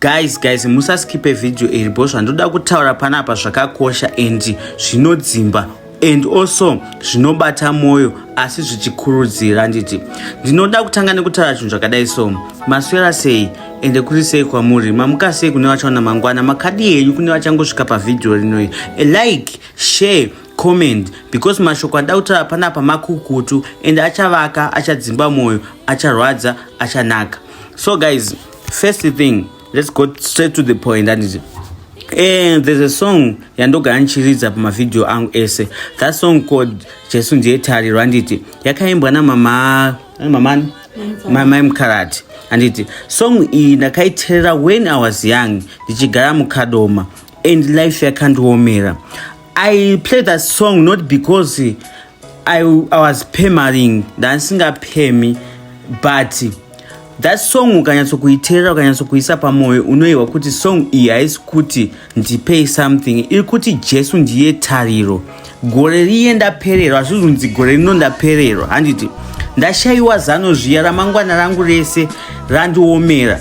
guys guys musaskipe video iri bho zvandoda kutaura panapa zvakakosha and zvinodzimba and also zvinobata mwoyo asi zvichikurudzira handiti ndinoda kutanga nekutaura chinhu zvakadai so maswera sei ende kuri sei kwamuri mamuka sei kune vachaona mangwana makadi henyu kune vachangosvika pavhidhiyo rinoi like share comment because mashoko andaa kutaura panapa makukutu ende achavaka achadzimba mwoyo acharwadza achanaka so guys first thing let's go straight to the point anditi and eh, there's a song yandogara ndichiridza pamavhidhiyo angu ese that song called jesu ndiye tariro anditi yakaimbwa namama mamani mamai mukarati anditi song iyi ndakaiterera when i was young ndichigara mukadoma and life yakandiomera i play that song not because I, I was pemaring ndandisingapemi but that song ukanyatso kuiteerera ukanyatso kuisa pamwoyo unoyehwa kuti song iyi haisi kuti ndipei something iri kuti jesu ndiye tariro gore riye ndapererwa hazvizunzi gore rino ndapererwa handiti ndashayiwa zano zviya ramangwana rangu rese randiomera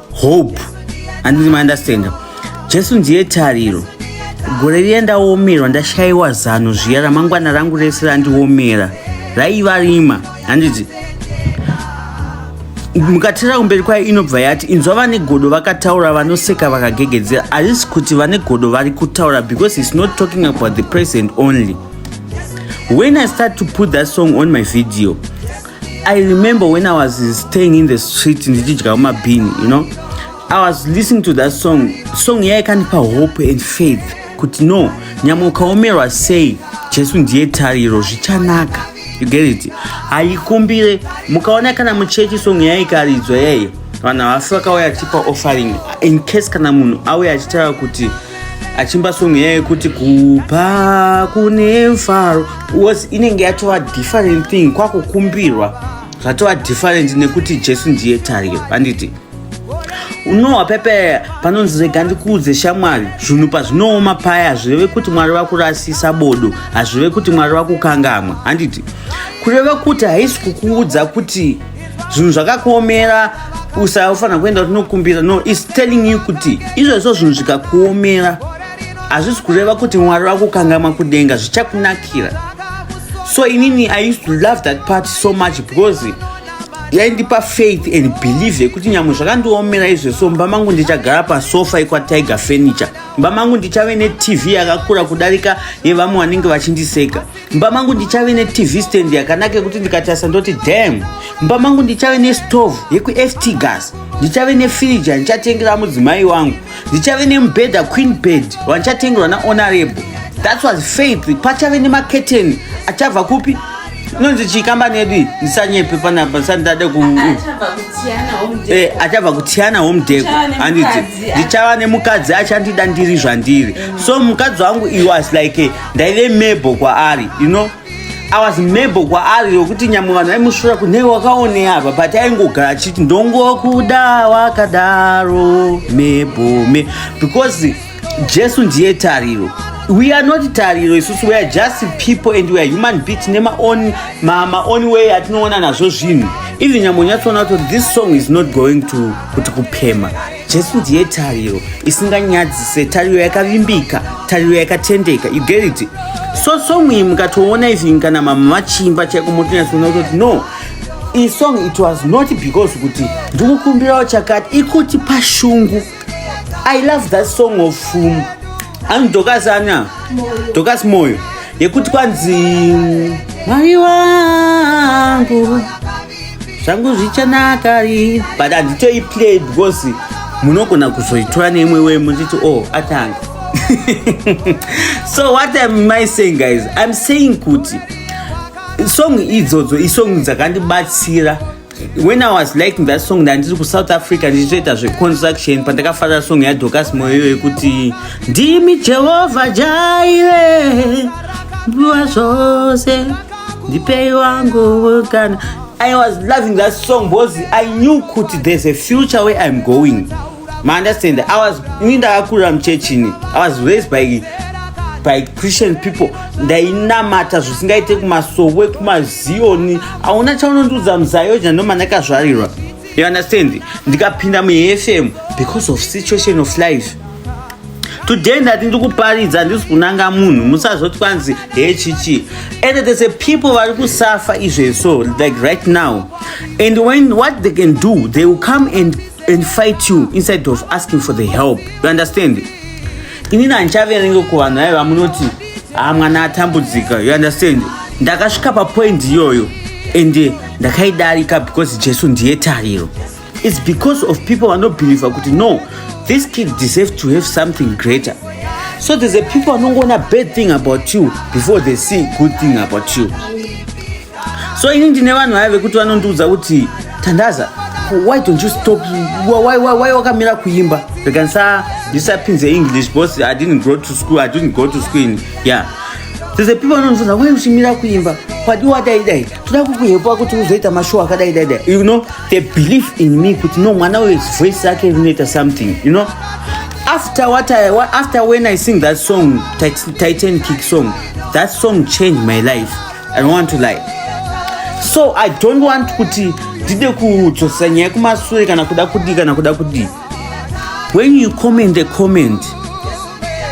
hope anditi maunderstanda jesu ndiye tariro gore riya ndaomerwa ndashayiwa zano zviya ramangwana rangu rese randiomera raiva rima handiti mukatera kumberi kwayo inobva yati inzwa vane godo vakataura vanoseka vakagegedzera harisi kuti vane godo vari kutaura because its not talking about the present only when i start to put that song on my video I remember when I was staying in the street ndichidya mabhini you know I was listening to that song song yaikandipa hope and faith kuti no nyamwe ukaomerwa sei jesu ndiye tariro zvichanaka you get it haikumbire mukaona kana muchechi song yaikaridzwa yaiyo vanhu havasi vakauya tipa offering in case kana munhu auya achitaura kuti achimba song iya yekuti kupa kune mfaro was inenge yatova different thing kwakukumbirwa zvatova different nekuti jesu ndiye tariro handiti unowa pepe panonzi rega ndikuudze shamwari zvinhu pazvinooma paya hazvireve kuti mwari vakurasisa bodo hazvireve kuti mwari vakukangamwa handiti kureva kuti haisi kukuudza kuti zvinhu zvakakuomera usafanira kuenda tinokumbira no is telling you kuti izvozvo zvinhu zvikakuomera hazvisi kureva kuti mwari vakukangama kudenga zvichakunakira so inini i used to love that part so much because yaindipa faith and believe yekuti nyamwe zvakandiomera izvo so mumba mangu ndichagara pasofa ikwatiger furniture mumba mangu ndichave netv yakakura kudarika yevamwe vanenge vachindiseka mba mangu ndichave netv stand yakanaka yekuti ndikatarisa ndoti dam mba mangu ndichave nestove yekuft gas ndichave nefiriji yandichatengera mudzimai wangu ndichave nemubhedha queen bed wandichatengerwa nahonorable that was faith pachave nemaketeni achabva kupi inonzi chii kambani yedu iyi ndisanyepe panapa ndisandidade ku eh, achabva kutiyana home deko handiti ndichava nemukadzi achandida ndiri zvandiri so mukadzi wangu iwas like ndaive mebo kwaari you know i was mebo kwaari yokuti nyamwe vanhu vaimusvura kunei wakaone apa but aingogara achiti ndongokuda wakadaro mebo me because jesu ndiye tariro we are not tariro isusu weare just people and weare human being tine maoni maoni way atinoona nazvo zvinhu even nyambo nyatsoona kuti this song is not going to kuti kupema jesu ndiye tariro isinganyadzise tariro yakavimbika tariro yakatendeka you get it so song iyi mukatoona even kana mama vachimba chaiko motonyatsona kutoti no iyi song it was not because kuti ndikukumbirawo chakati ikuti pashungu i love that song of um, ani dokas ana dokas moyo yekuti kwanzi mwari wangu zvangu zvichanaka ri but handitoi play because munogona kuzoitora neimwe wei muchiti o oh, atanga so what am i saying guys im saying kuti song idzodzo isong dzakandibatsira when i was liking that song ndandiri kusouth africa ndichitoita zveconstruction pandakafarira song yadocas moyo yekuti ndimi jehovha jaire mbuva zvose ndipei wangu kana i was loving that song because i knew kuti there's a future where i'm going maunderstand i was ini ndakakurira muchechini i was raised by by christian people ndainamata zvisingaite kumasowe kumazioni hauna chaunondiudza muzayoni ndomana kazvarirwa you understand ndikapinda mufm because of situation of life today ndati ndikuparidza ndisi kunanga munhu musazoti kwanzi hechichi and there's a people vari kusafa izveso like right now and when what they can do they will come and, and fight you inside of asking for the help you understand ini nandichaverenge kuvanhu vaive vamunoti ha ah, mwana atambudzika you understand ndakasvika papoint iyoyo ende eh, ndakaidarika because jesu ndiye tariro its because of people vanobhilivha kuti no this kid deserve to have something greater so there's a people vanongoona bad thing about you before they see good thing about you so ini ndine vanhu vaya vekuti vanondiudza kuti tandaza why don't you stop why, why, why wakamira kuimba rekanisa ndisapinze english because i didn't go to school i didn't go to school in, yeah there's a people vanonzonza why uchimira kuimba kwadi wadai dai toda kukuhepwa kuti uzoita mashow akadai dai dai you know they believe in me kuti no mwana uyo voice yake rinoita something you know after what I, what, after when i sing that song titan kick song that song changed my life I don't want to lie. So I don't want kuti ndide kudzosera nyaya kumasure kana kuda kudii kana kuda kudii. When you comment a comment,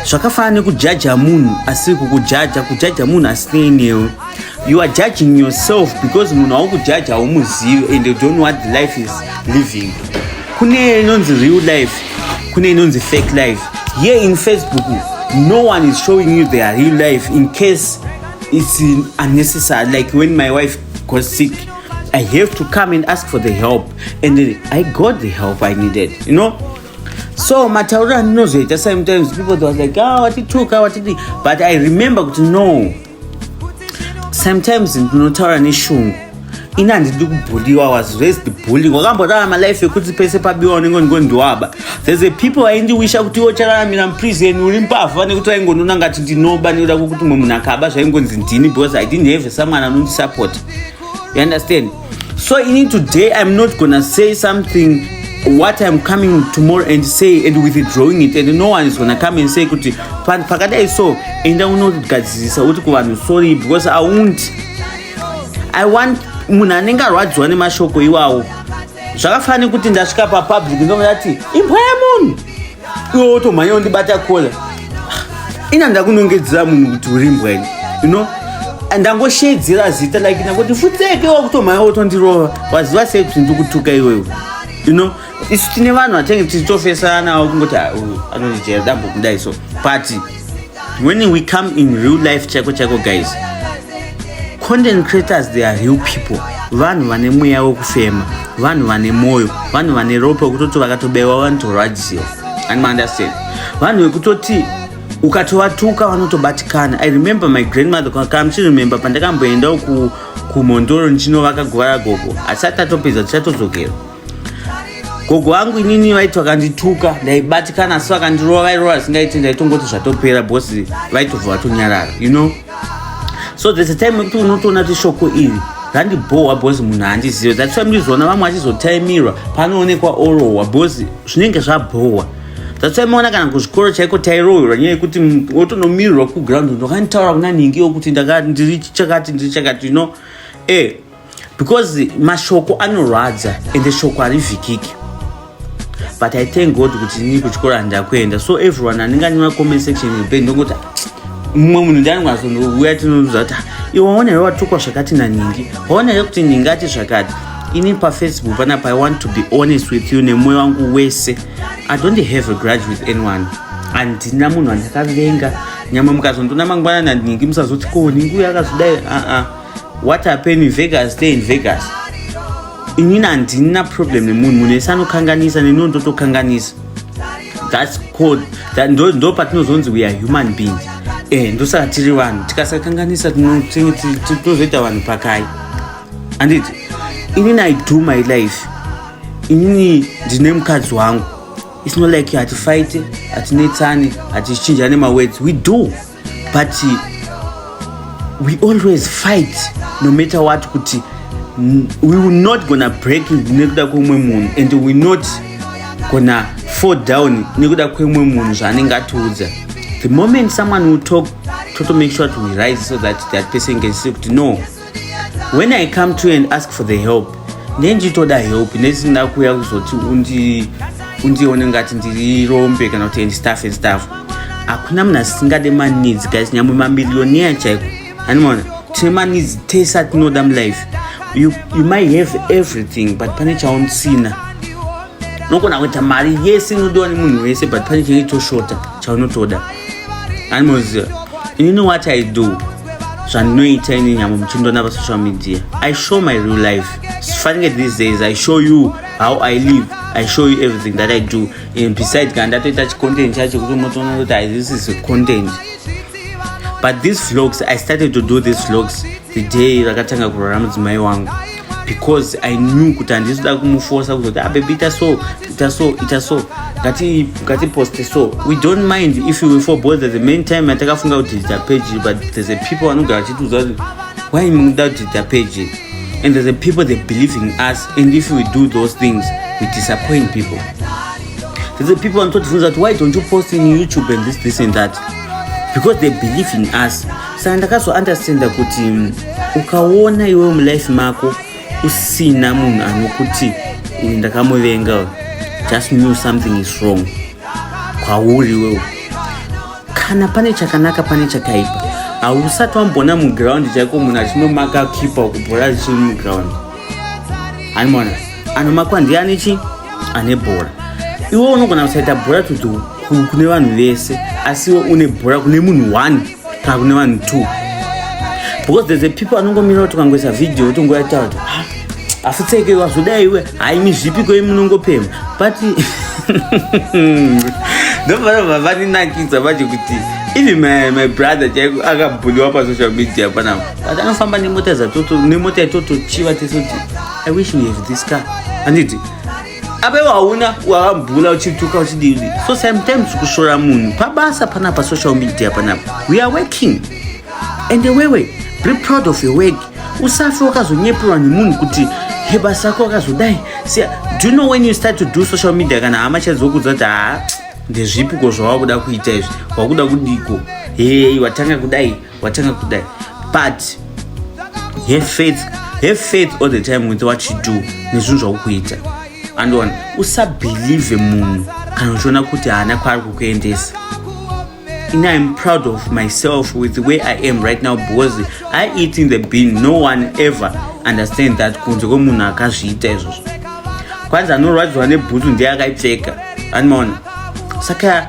zvakafanana nekujaja munhu asiri kukujaja kujaja munhu asinei newe you are judging yourself because munhu aukujaja haumuzivi and you don't know what the life is living kune inonzi real life kune inonzi fake life here in facebook no one is showing you their real life in case it's unnecessary like when my wife got sick i have to come and ask for the help and then i got the help i needed you know so matauriro andinozoita sometimes people they was like ah watituka watidi but i remember kuti no sometimes ndinotaura neshungu ini handidi kubhuliwa was raised bullying wakambotaura malife ekuti pese pabiwa unenge ungondiwaba there's a people vaindiwisha kuti iwo chararamira muprison uri mbavha nekuti vaingonona ngati ndinoba nekuda kwekuti mwe munhu akaba zvaingonzi ndini because i didn't have someone anondisupport you understand so ini today iam not gonna say something what iam coming tomorrow and say and withdrawing it and no one is gonna come and say kuti pakadai so enda unogadzirisa uti kuvanhu sorry because i won't i want munhu anenge arwadziwa nemashoko iwawo zvakafanira nekuti ndasvika papublic ndomati imbwa yemunhu iwe wotomhanya undibata kola ina ndakunongedzera munhu kuti uri mbwa ini you know ndangoshedzera zita like ndangoti futseke wakutomhanya wotondirova waziva sei kuti ndikutuka iwewe you know isu tine vanhu vatenge tichitofesana kungoti ah, anonijera dambo kudai so but when we come in real life chaiko chaiko guys content creators they are real people vanhu vane mweya wekufema vanhu vane mwoyo vanhu vane ropa wekutoti vakatobaiwa vanotorwadziwa ani maunderstand vanhu vekutoti ukatovatuka vanotobatikana i remember my grandmother kamuchiremember pandakamboendawo kumhondoro ndichinovaka guva ragogo asi atatopedza tichatodzokera gogo vangu inini vaiti vakandituka ndaibatikana asi vakandirova vairova zvingaiti ndaitongoti zvatopera bhosi vaitobva vatonyarara you know so there's a time wekuti unotoona kuti shoko iri randibhohwa bhozi munhu handizive that's why murizoona vamwe vachizotaimirwa panoonekwa orohwa bhozi zvinenge zvabhohwa that's why maona kana kuzvikoro chaiko tairohwerwa nyaya yekuti wotonomirirwa kuground ndokanditaura kuna nhingi yokuti ndiri chakati ndiri chakati you know e eh, because mashoko anorwadza ende shoko harivhikiki but i thank god kuti ini kuchikoro handida kuenda so everyone anenge anema comment section ibe ndokuti mumwe munhu ndianingazouya tinoudza kuti ah, iwe waona here watukwa zvakati naningi waona here kuti ningi ati zvakati ini pafacebook panapa i want to be honest with you nemwoyo wangu wese i don't have a grudge with anyone handina munhu andakavenga nyamwe mukazondona mangwana naningi musazoti ko ningi uyo akazodai aa uh -uh. what happened in vegas stay in vegas inini handina problem nemunhu munhu ese anokanganisa neniwo ndotokanganisa thats called ndo ndo patinozonzi we are human beings eh ndosaka tiri vanhu tikasakanganisa tinozoita vanhu pakai anditi inini i do my life inini ndine mukadzi wangu it's not like hatifaite hatinetsani hatichinjane mawords we do but we always fight no matter what kuti we will not gonna break nekuda kweumwe munhu and we not gonna fall down nekuda kweumwe munhu zvaanenge atiudza the moment someone will talk toto make sure to rise so that that person can see kuti no when i come to and ask for the help ndenjitoda help nesina kuya kuzoti undi undione ngati ndiri rombe kana kuti andstaff and staff hakuna munhu asingade maneeds guys nyamwe mamiliyoniya chaiko animona tine maneeds tese atinoda mulife you, you might have everything but pane chausina unogona kuita mari yese inodiwa nemunhu wese but pane chinenge choshota chaunotoda animoziva ini know what i do zvandinoita ini nyama muchindoona pasocial media i show my real life fanike these days i show you how i live i show you everything that i do and beside kana ndatoita chicontent chacho kuti unotoona kuti this is content but these vlogs i started to do these vlogs the day rakatanga kurara mudzimai wangu because i knew kuti handisi kuda kumufosa kuzoti abebi ah, ita so ita so ita so ngatiposte so we don't mind if we for both the main time atakafunga kuti ita page but there's a people vanogara vachitiudza kuti why mukuda kuti ita page and there's a people they believe in us and if we do those things we disappoint people there's a people vanototifunza kuti why don't you post in youtube and this this and that because they believe in us saka ndakazounderstanda kuti mm, ukaona iwewo mulife mako usina munhu anokuti uyu ndakamuvenga uyu just knew something is wrong kwauri wewo kana pane chakanaka pane chakaipa hausati wamboona muground chaiko munhu achinomaka kipa kubhora zvichiri muground animona anomakwa ndiani chi ane bhora iwe unogona kusaita bhora tutu kune vanhu vese asi iwe une bhora kune munhu one kana kune vanhu two because there's a people anongomira kuti ukangoisa video kuti ngoyataura kuti ah, afutseke wazodai iwe haimi zvipi kwei munongopema but ndofanobva vaninakidza vacho kuti even my, my brother chaiko akabhuliwa pasocial media panapa but anofamba nemota dzatoto nemota yatotochiva tese kuti i wish we have this car handiti apa iwo hauna wavambula uchituka uchidii so sometimes kushora munhu pabasa pana pasocial media panapa we are working and wewe be proud of your work usafe wakazonyeperwa nemunhu kuti he basa ako wakazodai sia do you know when you start to do social media kana hama chadzokudza kuti haa ndezvipiko zvawakuda kuita izvi wakuda kudiko hei watanga kudai watanga kudai but have faith have faith all the time with what you do nezvinhu zvakukuita andiona usabhelieve munhu kana uchiona kuti haana kwaari kukuendesa ini iam proud of myself with the way i am right now because i eat in the bean no one ever understand that kunze kwemunhu akazviita izvozvo kwanzi anorwadziwa nebhutsu ndiye akaipfeka andimaona saka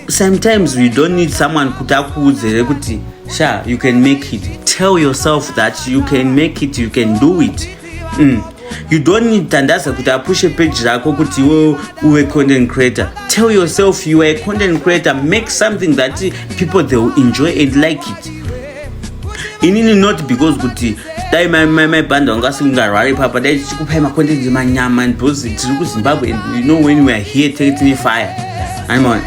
sometimes you don't need someone kuti akuudze here kuti sha you can make it tell yourself that you can make it you can do it mm. you don't need tandaza kuti apushe page rako kuti iwe uwe content creator tell yourself you are a content creator make something that people they will enjoy and like it inini not because kuti dai maibhanda vanga vasingarwari papa dai tichikupai makondendi manyama because tiri kuzimbabwe and you know when weare here teke tine fire animaona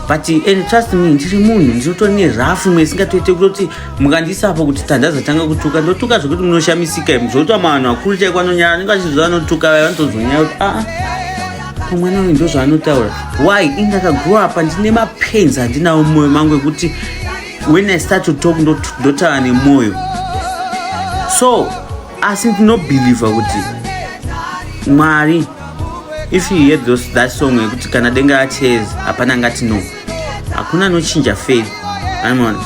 but and trust me ndiri munhu ndinoto ne rafu imwe isingatoite kutoti mukandisapo kuti tandaza tanga kutuka ndotuka zvekuti munoshamisika im zvokuta mavanhu vakuru chaiko anonyara anenge achizvo vanotuka vaya vanotozonyaya kuti aa ah, ah, mwana uyu ndozvaanotaura why indakagrow apa ndine mapains andinawo mumoyo mangu ekuti when i start to talk ndotaura nemwoyo so asi ndinobhilivha kuti mwari if you hear those, that song yekuti kana denga aches hapana ngati no hakuna anochinja faith anmona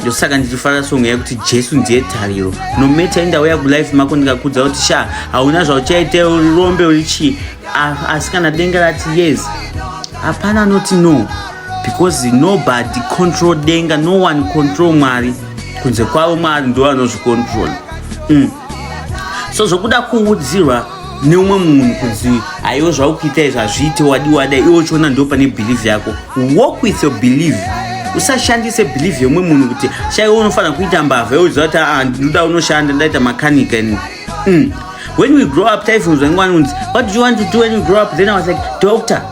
ndosaka ndichifara song yekuti jesu ndiye tariro nometa indauya kulife mako ndikakudza kuti sha hauna zvauchaite urombe uri chii asi kana denga rati yes hapana anoti no because nobody control denga no one control mwari kunze kwavo mwari ndo vanozvicontrol mm. so zvokuda kuudzirwa neumwe munhu kunzi aiwe zvaukuita izvi hazviite wadi wada iwe uchiona ndo pane believe yako walk with your believe usashandise believe yemumwe munhu kuti shaiwe unofanira kuita mbavha yoziva kuti aa ah, ndinoda unoshanda ndaita makanika ini mm. when we grow up taifunzwa ngwani unzi what do you want to do when you grow up then i was like doctor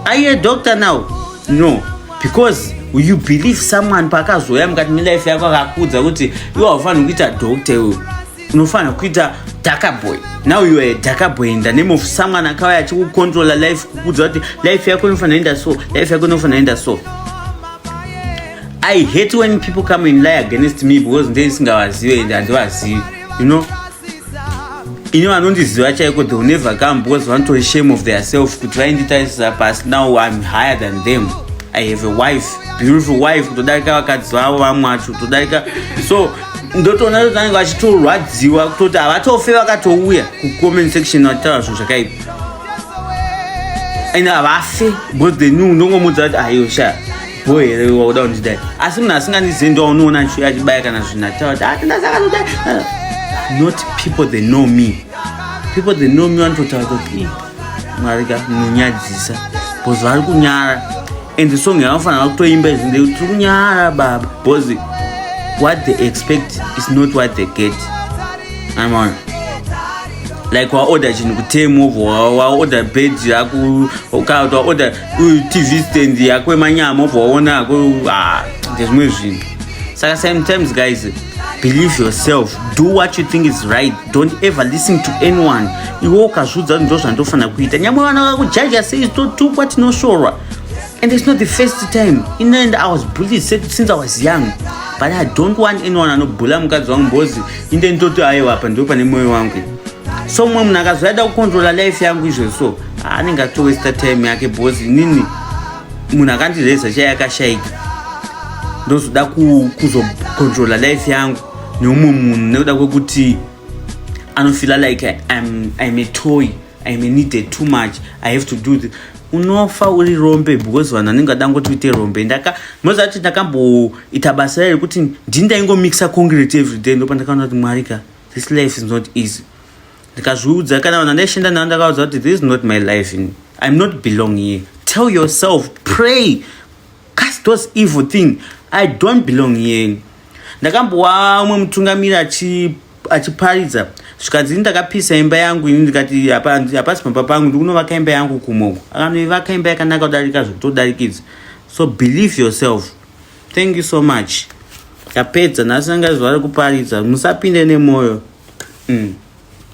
Are you a doctor now? No. Because you believe someone paakazoya mukati melife yako akakuudza kuti iwe haufanirwi kuita doctor iwe unofanira kuita darker boy now you are a darker boy in the name of someone akauya achikucontrola life kukuudza kuti life yako inofanira enda so life yako inofanira enda so i hate when people come and lie against me because ndee ndisingavazive and handivazivi you know ini vanondiziva chaiko they never come because vanotori shame of their self kuti vainditarisira pasi now im higher than them i have a wife beautiful wife kutodarika vakadzi vavo vamwe vacho kutodarika so ndotoona kuti vanenge vachitorwadziwa kutoti havatofe vakatouya kucomment section vachitaura zvinhu zvakaipa and havafe because they knew ndongomudza kuti ayo shaa bho here wauda kundidai asi munhu asingandizivi ndo waunoona achiuya achibaya kana zvinhu achitaura ah, tindasakanodai ah, not people they know me people they know me vanototaura kuti mwari ka munonyadzisa bcause vari kunyara and the song yavanofanira va kutoimba izvi ndei tiri kunyara baba bcause what they expect is not what they get amaona like waorder chinhu kutemu waorder bed yako ukati waorder uyu tv stand yako emanyama obva waona ako ah, ndezvimwe zvinhu saka sometimes guys believe yourself do what you think is right don't ever listen to anyone iwe ukazviudza kuti ndo zvandofanira kuita nyamwe vana vakujaja sei totukwa tinoshorwa and it's not the first time in end i was bullied since i was young but i don't want anyone anobhula mukadzi wangu mbozi inde nditoti aiwa apa ndipo pane mwoyo wangu so mumwe munhu akazoyada kukontrola life yangu izvozvo anenge atowesta time yake bhozi inini munhu akandireza chai akashaika ndozoda kuzocontrola life yangu neumwe munhu nekuda kwekuti anofila like I'm, I'm a toy I'm a needed too much I have to do this unofa uri rombe because vanhu anenge adangoti uite rombe ndaka moza kuti ndakamboita basa rayo rekuti ndini ndaingomixa concrete everyday ndopa ndakaona kuti mwari ka this life is not easy ndikazviudza kana vanhu andaishanda navo ndakavaudza kuti this is not my life in i'm not belong here tell yourself pray cast those evil thing i don't belong here ndakambowa umwe mutungamiri achiparidza zvikanzi ini ndakapisa imba yangu ini ndikati hapasi pamba pangu ndikunovaka imba yangu kumoko akanoivaka imba yakanaka kudarika zvekutodarikidza so believe yourself thank you so much yapedza nhasi anga zuva rekuparidza musapinde nemwoyo mm.